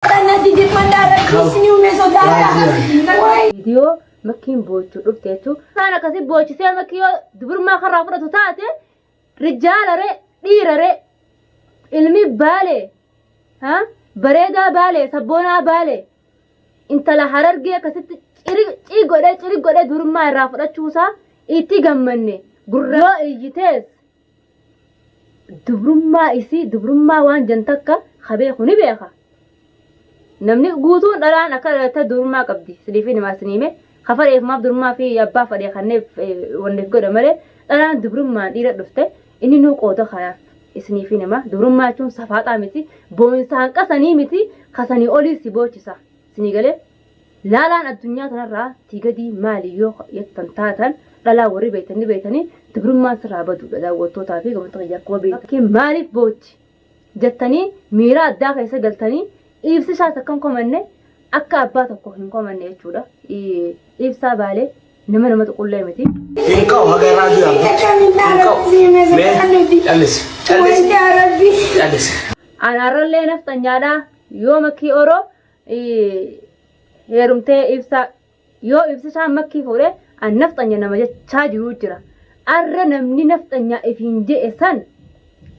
Kanatti jibbandaa rabbi isinii uumee sodaadha. Waayii. viidiyoo makkiin boochuu dhufte jechuun isaan akkasii boochisee makkii yoo dubrummaa karraa fudhatu taate rijaalaree dhiiraree ilmi baalee ha bareedaa baalee sabboonaa baalee intala harargee akkasitti ciri cii godhee ciri godhee dubrummaa irraa fudhachuusaa itti gammanne gurra yoo iyyitees dubrummaa isii dubrummaa waan jan takka ka beeku ni beeka namni guutuun dhalaan akka dhalatte dubrummaa qabdi siliifii namaa siniime ka fadheef maaf dubrummaa fi abbaa fadhee kanneef wanneef godha malee dhalaan dubrummaan dhiira dhufte inni nuu qooda kanaaf isiniifii namaa dubrummaa jechuun safaaxaa miti boo'insaan qasanii miti kasanii olii si boochisa Isinii galee? Laalaan addunyaa tanarraa tii gadii maali yoo ka yattan taatan dhalaa warri beeytan ni beeytanii dubrummaan sirraa baduudha daawwattootaa fi gamtoota kiyya akkuma beeytan maaliif bootti? jattanii miiraa addaa keessa galtanii iibsisaas akkan komanne akka abbaa tokko hin komanne jechuudha iibsaa baalee nama nama tuqullee miti. Hin ka'u haga irraa du'e abbo. Hin ka'u. Mee callisi. Callisi. Callisi. Anaarrallee nafxanyaadhaa. Yoo makkii oroo heerumtee ibsaa yoo ibsisaan makkii fuudhe an nafxanya nama jechaa jiruu jira. Arra namni nafxanyaa ifiin je'e san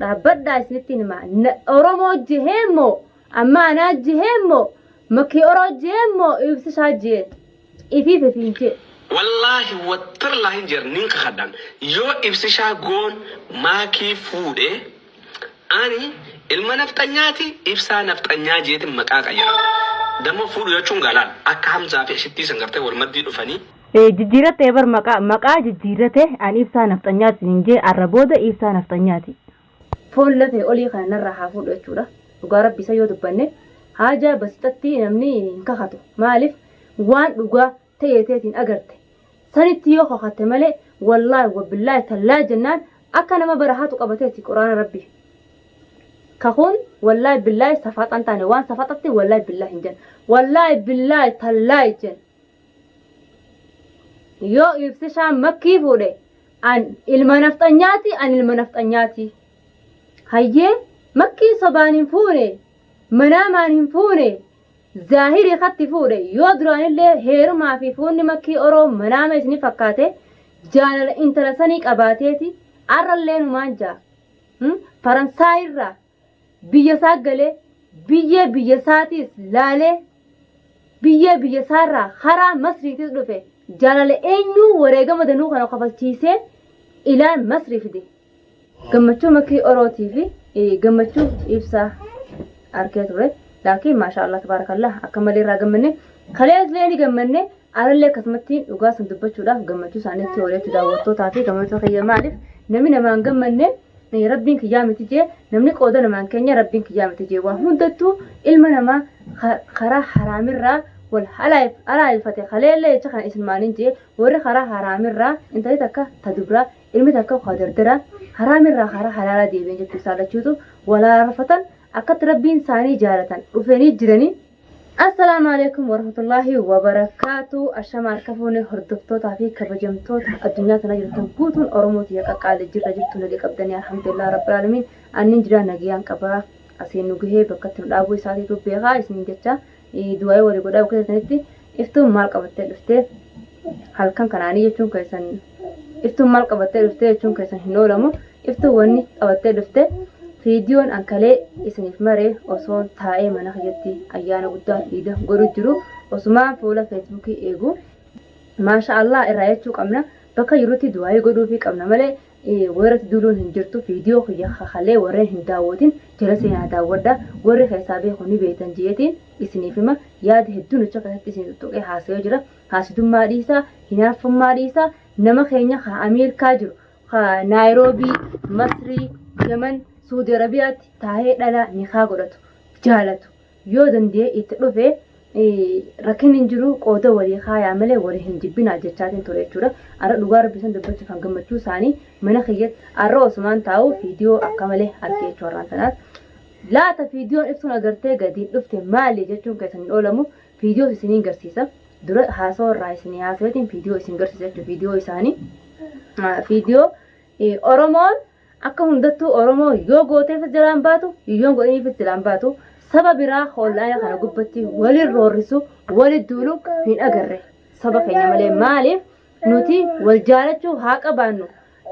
dhaabbadhaa isinitti hima. Oromoo jehee immoo amma anaa jehee immoo makkii oroo jehee immoo ibsisaa jehee. Ifii fi fiinchee. Wallaahi watarlaahi jer nin kakadhan yoo ibsishaa goon maakii fuudhe ani ilma nafxanyaati ibsaa nafxanyaa jeetin maqaa qayara damo fuudhu jachun galaan akka hamzaa fi ashittii san gartee wal maddii dhufanii Jijjiirrattee bar maqaa maqaa jijjiirrate an ibsaa nafxanyaa siin hin jee arra booda ibsaa nafxanyaati. Foon lafee olii kana narraa haa fuudhu jechuudha. Dhugaa rabbi isa yoo dubbanne haajaa basixatti namni hin kakatu. Maaliif waan dhugaa ta'ee teetiin agarte. Sanitti yoo kakatte malee wallaahi wabbillaahi tallaahi jennaan akka nama bara haatu qabateeti quraana rabbi. Kakuun wallaahi billaahi safaxan taane waan safaxatti wallaahi billaahi hin jenna. Wallaahi billaahi tallaahi jenna. Yoo ibsishaan makkii fuudhe an ilma nafxanyaati an ilma nafxanyaati. Hayyee makkii sobaan hin fuune manaamaan hin fuune zaahirii katti fuudhe yoo duraanillee heerumaa fi fuunni makkii oroo manaama isinii fakkaate jaalala intala sanii qabaateeti arrallee numaan jaa. Faransaayirraa biyya isaa galee biyyee biyya isaatiis laalee biyyee biyya isaarraa haraa masriitis dhufe jaalala eenyuu wareegama danuu kana kafalchiisee ilaan masrii fide gammachuu makii orootii fi eh, gammachuu ibsaa arkee ture laakiin maashaa allah tabaarakallah akka malee irraa gammanne kaleeslee ni gammanne arallee akkasumatti dhugaa san dubbachuudhaaf gammachuu isaaniitti ooleetti daawwattootaa fi gammachuu kiyya maaliif namni namaan gammanne Rabbiin kiyyaa miti jee namni qooda namaan keenya rabbiin kiyyaa miti jee waa hundattuu ilma namaa karaa haraamirraa wal halaayifate kaleellee jecha kana isin maaniin jee warri karaa haraamirraa intalli takka ta dubraa ilmi takka ka dardaraa haraamirraa karaa halaalaa deebiin jechuu isaa lachuutu wal halaarfatan akkatti rabbiin isaanii jaalatan dhufeenii jiranii Assalaamu alaikum warahmatullaahi wabarakaatu. Ashama harka fuune hordoftootaa fi kabajamtoota addunyaa tana jirtan guutuun Oromoo tiyya qaqqaalee jirra jirtu naga qabdanii alhamdulillah rabbi aalamiin annin jira nagayaan qabaa asiin nu gahee bakkatti nu dhaabuu isaatiitu beekaa isiniin jecha du'aa'ii walii godhaa bakka jirtanitti Iftuun maal qabattee dhufte? Halkan kanaanii jechuun keessan iftuun maal qabattee dhufte jechuun keessan hin oolamu. Iftuun wanni qabattee dhufte viidiyoon ankalee isiniif maree osoon taa'ee mana kiyyatti ayyaana guddaa iida godhu jiru osumaan fuula feesbuukii eegu maasha Allah irraa jechuu qabna bakka jirutti du'aayii godhuufii qabna malee Weerratti duuluun hin jirtu viidiyoo kiyya ka kalee warreen hin daawwatin jala seenaa daawwadha warri keessaa beeku ni beektan je'eetiin isiniif hima yaada hedduun achi keessatti isin xuxuqee haasayoo jira haasidummaa dhiisaa hinaaffummaa dhiisaa nama keenya ka Ameerikaa jiru ka Naayiroobii Masrii Yaman Suudi Arabiyaatti taa'ee dhalaa nikaa godhatu jaalatu Yoo danda'ee itti dhufe rakkinni hin jiru qooda walii kaayaa malee walii hin jibbinaa jechaatiin ture jechuudha. Arra dhugaa rabbi san dubbachuuf kan gammachuu isaanii mana kiyyatti arra osumaan taa'u fiidiyoo akka malee argee jechuu har'aan tanaas. Laata fiidiyoon ibsuun agartee gadiin dhufte maali jechuun keessan hin oolamu fiidiyoos isiniin garsiisa. Dura haasoo irraa isinii haasaweetiin fiidiyoo isin garsiisa jechuudha fiidiyoo isaanii. Fiidiyoo Oromoon Akka hundattuu Oromoo yoo gooteefis jalaan baatu, yoon godhiniifis jalaan baatu, saba biraa online kana gubbatti walin roorrisu, wali duulu hin agarre. Saba keenya malee maaliif nuti wal jaalachuu haa qabaannu.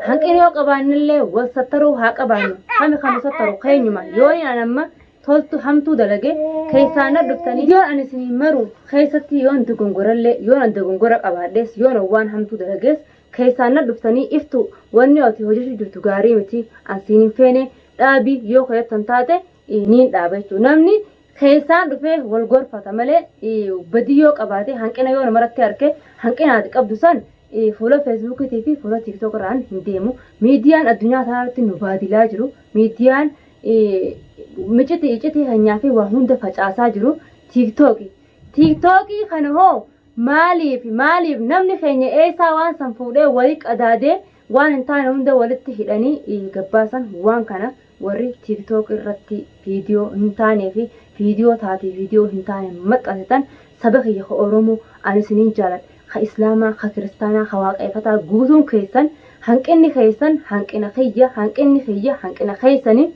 Hanqina yoo qabaannellee wal sattaruu haa qabaannu. Kami kanu sattaru keenyuma. Yooni an amma toltu hamtuu dalage keessaan na dhuftanii yoon an isinii maru keessatti yoon dogongorellee yoon an dogongora qabaadhees yoon waan hamtuu dalagees Keessaan na dhuftanii iftuu wanni ati hojjechuu jirtu gaarii miti an siin hin feene dhaabi yoo keeyattan taate niin dhaaba jechuudha. Namni keessaan dhufee wal gorfata malee badii yoo qabaate hanqina yoo namarratti arke hanqina ati qabdu san fuula feesbuukiitii fi fuula tiiktook irraan hin deemu. Miidiyaan addunyaa kanarratti nu baadilaa jiru. Miidiyaan miciti icitii keenyaa fi waa hunda facaasaa jiru tiiktooki. Tiiktookii kana hoo Maaliif? Maaliif? Namni keenya eessaa waan san fuudhee walii qadaadee waan hin taane hunda walitti hidhanii gabbaasan waan kana warri tiiktook irratti viidiyoo hin taanee fi viidiyoo taatee viidiyoo hin taane maxxansitan saba kiyya ka Oromoo ani isiniin jaaladha ka Islaamaa ka Kiristaanaa ka Waaqeeffataa guutuun keessan hanqinni keessan hanqina kiyya hanqinni kiyya hanqina keessanii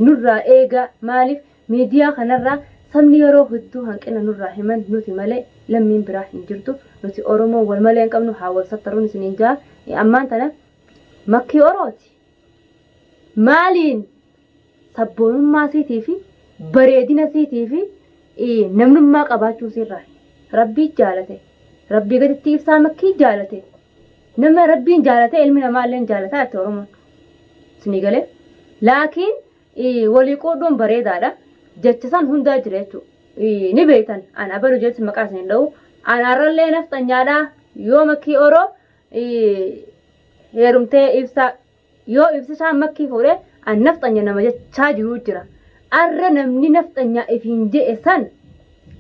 nurraa eegaa maaliif Miidiyaa kanarraa sabni yeroo hedduu hanqina nurraa himan nuti malee lammiin biraa hin jirtu nuti oromoon wal malee hin qabnu haa wal sattaruun isiniin ja'a ammaan tana makkii orooti maaliin sabboonummaa siitii fi bareedina siitii fi namnummaa qabaachuu siirraa rabbii jaalate rabbii gaditti ibsaa makkii jaalate nama rabbiin jaalate ilmi namaa illee jaalata itti oromoon isinii galee laakiin Ii, Walii quudhuun bareedaadha. Jecha san hundaa jira jechuu. Ii, Ni beeytan. An abalu jeetis maqaa isin hin dha'u. Anaarrallee nafxanyaadha. Yoo makkii oroo ii, heerumtee ibsa. Yoo ibsisaan makkii fuudhe an nafxanya nama jechaa jiruu jira. Arra namni nafxanyaa ifiin je'e san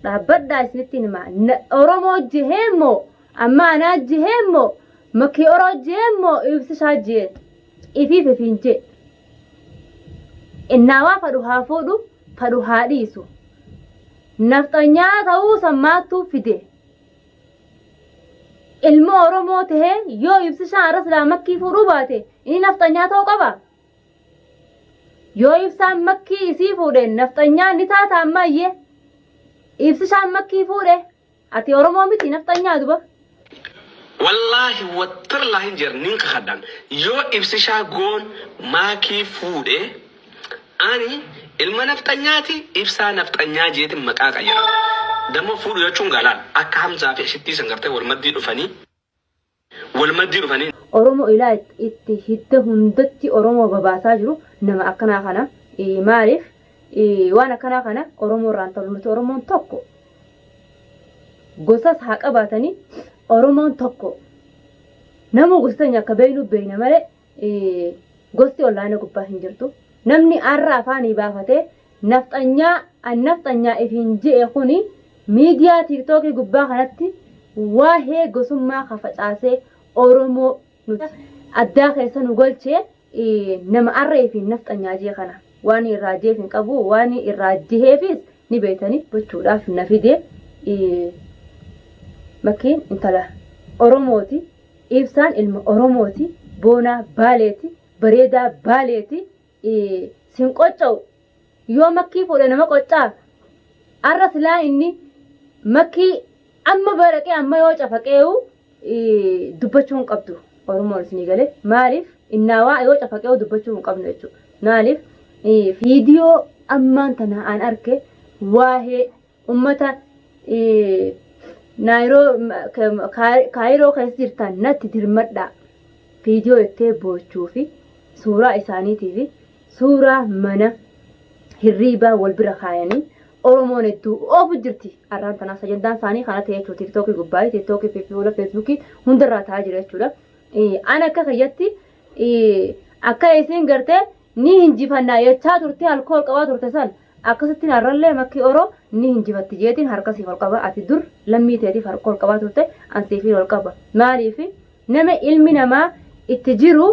dhaabbadhaa isinitti hima. Na- Oromoo jehee immoo amma anaa jehee immoo makkii oroo jehee immoo ibsisaa jehee ifiif ifiin jee. Innaawaa fadhu haa fuudhu fadhu haa dhiisu. Nafxanyaa ta'uu san maattuu fide. Ilma Oromoo ta'ee yoo ibsishaan arras laa makkii fuudhuu baate inni nafxanyaa ta'uu qaba. Yoo ibsaan makkii isii fuudhe nafxanyaa ni taata ammaayyee. Ibsishaan makkii fuudhe Ati Oromoo miti nafxanyaa duba. Wallaahi wattarlaahi hin jedhan nin kakadhaan yoo ibsishaa goon maakii fuudhe ani ilma nafxanyaati ibsaa nafxanyaa jeetin maqaa qayyara damo fuudhu jechuun gaalaal akka hamzaa fi ashittii san gartee wal maddii dhufanii wal maddii dhufanii. Oromo ilaa itti hidda hundatti Oromo babaasaa jiru nama akkanaa kana maaliif waan akkanaa kana Oromo irraan talu nuti Oromoon tokko gosas haa qabaatanii Oromoon tokko namuu gosa teenya akka beeynu beeyna malee Gosti online gubbaa hin jirtu. Namni arra afaanii baafatee nafxanyaa an nafxanyaa ifiin je'e kuni miidiyaa tiiktookii gubbaa kanatti waahee gosummaa ka facaasee Oromoo nuti addaa keessa nu golchee nama arra ifiin nafxanyaa jee kana waan irraa jeef hin qabu waan irraa jeheefis ni beeytanii gochuudhaaf na fide makkiin intala Oromooti. Ibsaan ilma Oromooti, boonaa Baaleeti, bareedaa Baaleeti, sin qocca'u. Yoo makkii fuudhe nama qoccaa? Arra silaa inni makkii amma baraqee amma yoo cafaqeewu dubbachuu hin qabdu. Oromoon isinii galee maaliif innaawaa yoo cafaqeewu dubbachuu hin qabnu jechuudha. Maaliif fiidiyoo ammaan tana aan arke waa'ee ummata kaayiroo keessa jirtan natti dirmadhaa viidiyoo jettee boochuu fi suuraa isaaniitii fi suuraa mana hirriibaa wal bira kaayanii oromoon hedduu oofu jirti arraan tanaa sajandaan isaanii kana ta'e jechuudha tiiktookii gubbaa tiiktookii fi fuula feesbuukii hundarraa ta'aa jira jechuudha an akka kiyyatti akka isin gartee ni hinjifannaa jechaa turte alkool qabaa turte san Akkasittiin arrallee makki oro ni hinjifatti jeetiin harka siif ol qaba ati dur lammii teetiif harka ol qabaa turte an siifin ol qaba maaliif nama ilmi namaa itti jiru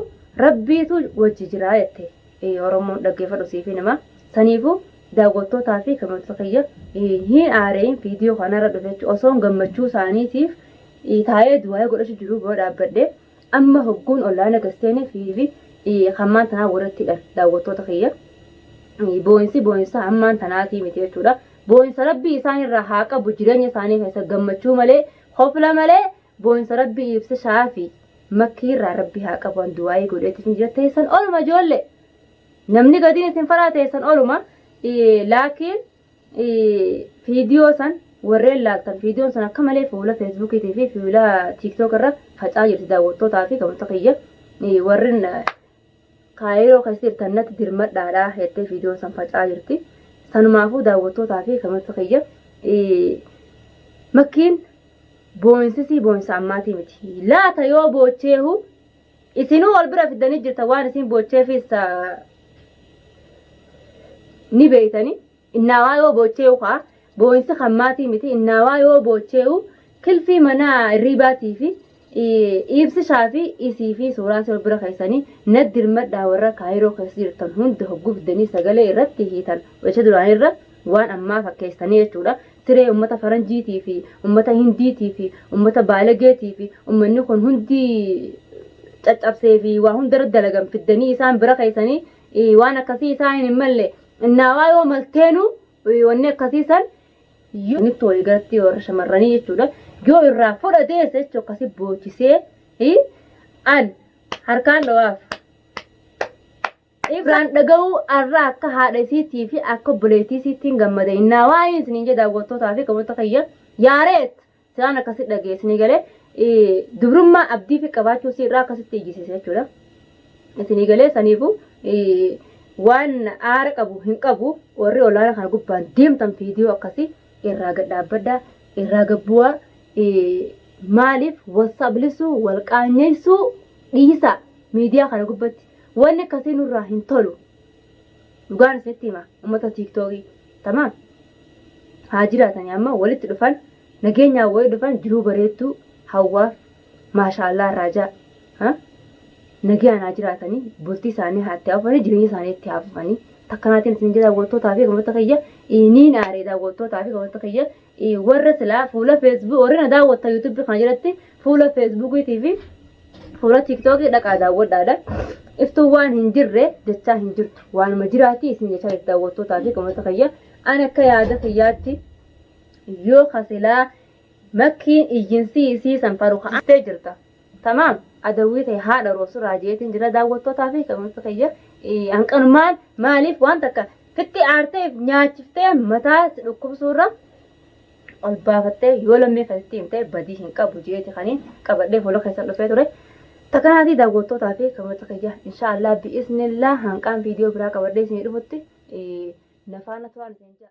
rabbiitu wajji jiraa jette ee oromoon dhaggeeffadhu siifin hima saniifuu daawwattootaa fi kameeltota kiyya hin aareeyin viidiyoo kanarra dhufechu osoon gammachuu isaaniitiif taa'ee du'aa'ee godhachu jiruu bira dhaabbadhe Amma hogguun ollaana gad seene FIV hammaan tanaa warratti hidhan daawwattoota kiyya. Booyinsi booyinsa hammaan tanaatii miti jechuudha. Booyinsa rabbii isaan irraa haa qabu jireenya isaanii keessa gammachuu malee kofla malee booyinsa rabbii ibsa shaafi makkii irraa rabbii haa qabu an duwaayii godheetti isin jira teessan oluma ijoollee. Namni gadiin isin faraa teessan oluma laakiin Viidiyoo san warreen laaltan viidiyoon sun akka malee fuula feesbuukiitii fi fuula tiiktook irra faca'aa jirti daawwattootaa fi kabajamtoota kiyya warreen kaayiroo keessa jirtan natti dirmadhaadha jettee viidiyoon san faca'aa jirti. Sanumaafuu daawwattootaa fi kabajamtoota kiyya makkiin boonsisii boonsa ammaatii miti. Laata yoo boocheehu Isinuu wal bira fiddanii jirta waan isin boocheefis ni beeytanii. Innaawaa yoo boochee'u kaa boo'insi kan maatii miti innaawaa yoo boochee'u kilfii manaa irriibaatii fi iibsishaa fi isii fi suuraa si wal bira keessanii na dirmadhaa warra kaayiroo keessa jirtan hunda hogguu fiddanii sagalee irratti hiitan wacha duraanii irra waan ammaa fakkeessanii jechuudha. Tiree ummata faranjiitii fi ummata hindiitii fi ummata baalageetii fi ummanni kun hundi caccabsee fi waa hundarra dalagan fiddanii isaan bira keessanii waan akkasii isaan hin malle innaawaa yoo malteenu wanni akkasii san yoo nitti walii galatti warra shamarranii jechuudha yoo irraa fudha deesse jechuun akkasii boochisee an harkaan dhawaaf. Ibraan dhaga'uu arra akka haadha isiitii fi akka obboleettii isiittiin gammada innaa waa'ee isiniin jee daawwattootaa fi qaboota kiyya yaareet silaan akkasitti dhaga'e isinii galee dubrummaa abdii fi qabaachuu isii irraa akkasitti ijjisiise jechuudha. Isinii galee saniifu waan aara qabu hin qabu warri olaana kana gubbaan deemtan fiidiyoo akkasii irraa gad dhaabbadhaa irraa gabbu'aa maaliif wal sablisuu wal qaanyeessuu dhiisaa miidiyaa kana gubbatti Wanni akkasii nurraa hin tolu. Dhugaan isinitti hima uummata tiiktookii. Tamaam. Haa jiraatanii amma walitti dhufan nageenyaan wayii dhufan jiruu bareedduu hawwaaf maashaallah raajaa. Ha? Nagayaan haa jiraatanii bultii isaanii haa itti haafufanii jireenya isaanii itti haafufanii. Takkanaatiin isin jedha daawwattootaa fi akkasumas kiyya niin aaree daawwattootaa fi akkasumas kiyya warra silaa fuula feesbuuk warri na daawwatta yuutuubii kana jalatti fuula feesbuukiitii fi fuula tiiktookii dhaqaa daawwadhaadha. Iftuun waan hin jirre jechaa hin jirtu. Waanuma jiraatii isin jechaa jirti daawwattootaa fi qomoota kiyya. Ani akka yaada kiyyaatti yoo kasilaa makkiin iyyinsii isii san faru ka'attee jirta. Tamaam adawwii tee haadha roobsu irraa jeetiin jira daawwattootaa fi kanuunsa kiyya hanqanumaan maaliif waan takka fitti aartee nyaachiftee mataa si dhukkubsuu irra ol baafattee yoo lammii keessatti himtee badii hin qabu jeeti kanii qabadhee fuula keessan dhufee ture. Takanaatii daawwattootaa fi kanuunsa kiyya inshaallah bi'iznillaa hanqaan viidiyoo biraa qabadhee isinii dhufutti nafaana turaan isin ja'a.